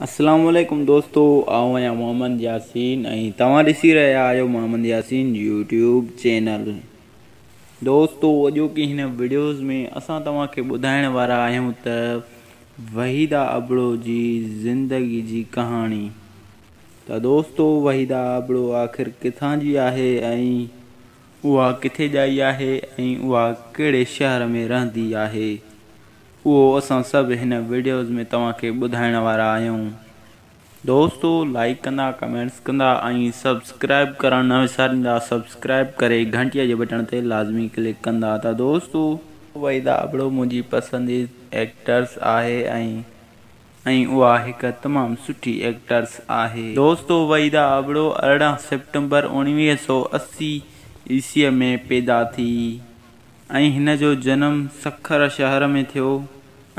السلام عليڪم دوستو آئون آهيان محمد ياسين ۽ توهان ڏسي رهيا آهيو محمد ياسين يوٽيوب چينل دوستو اڄوڪي هن ويڊيوز ۾ اسان توهان کي ٻڌائڻ وارا آهيون ته وحيدا ابڙو جي زندگي جي ڪهاڻي ته دوستو وحيدا ابڙو آخر ڪٿان جي آهي ۽ اها ڪٿي ڄائي آهي ۽ اها ڪهڙي شهر ۾ رهندي آهي اهو اسان سڀ هن وڊيوز ۾ توهان کي ٻڌائڻ وارا آهيون دوستو لائيڪ ڪندا ڪمينٽس ڪندا ۽ سبسڪرائيب ڪرڻ نه وساريندا سبسڪرائيب ڪري گهنٽيء جي بٽڻ تي لازمي ڪلڪ ڪندا ته دوستو وحيده ابڙو منهنجي پسنديد ايڪٽرس آهي ۽ ۽ اها هڪ تمام سٺي ايڪٽرس آهي دوستو وحيده ابڙو ارڙهن سيپٽمبر اوڻويهه سؤ اسي عيسوي ۾ پيدا ٿي. ۽ هن جو جنم سکر شهر ۾ ٿيو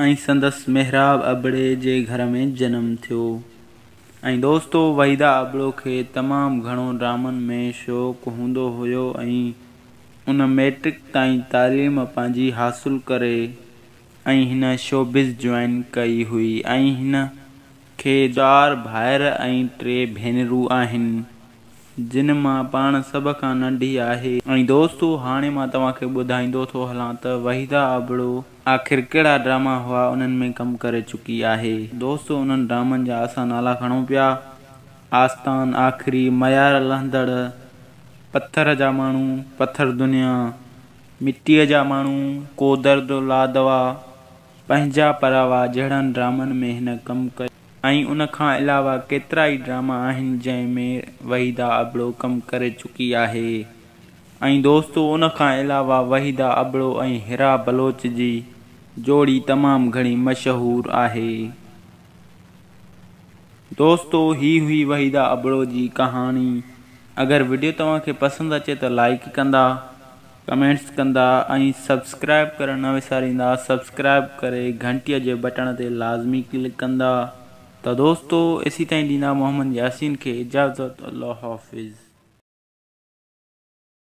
۽ سندس محراب ابڙي جي گهر ۾ جنم ٿيو ۽ دوستو وحيده ابڙو کي تمام گهڻو ڊرامن ۾ شوق هوندو هيو ۽ ان مئٽرڪ تائين تعليم پنهنجي حاصل ڪري ۽ هن شوبز جوائن ڪئي هئي ۽ هن کي چار ڀائر ۽ ٽي ڀينرون آهن، جن مان پاڻ سڀ کان ننڍي آهي. ۽ دوستو هاڻي مان توهان کي ٻڌائيندو ٿو هلان ته وحيده ابڙو آخر ڪهڙا ڊراما هئا انهن ۾ ڪم ڪري چڪي آهي. دوستو انهن ڊرامن جا اسان نالا کڻون پيا، آستان، آخري، ميار لهندڙ، پٿر جا ماڻهو، پٿر دنيا، مٽيء جا ماڻهو، ڪو درد لا دوا، پنهنجا پراوا جهڙن ڊرامن ۾ هن ڪم ڪيو ۽ ان کان علاوه ڪيترائي ڊراما آهن جنهن ۾ وحيده ابڙو ڪم ڪري چڪي آهي ۽ دوستو ان کان علاوه وحيده ابڙو ۽ حرا بلوچ جي جوڙي تمام گهڻي مشهور آهي دوستو هي هئي وحيده ابڙو جي ڪهاڻي اگر وڊيو توهان کي پسند اچي ته لائيڪ ڪندا. ڪمينٽس ڪندا ۽ سبسڪرائب ڪرڻ نه وساريندا سبسڪرائب ڪري گهنٽيء جي بٽڻ تي لازمي ڪلڪ ڪندا ته دوستو ايسي تائين ڏيندا محمد ياسين کي اجازت الله حافظ.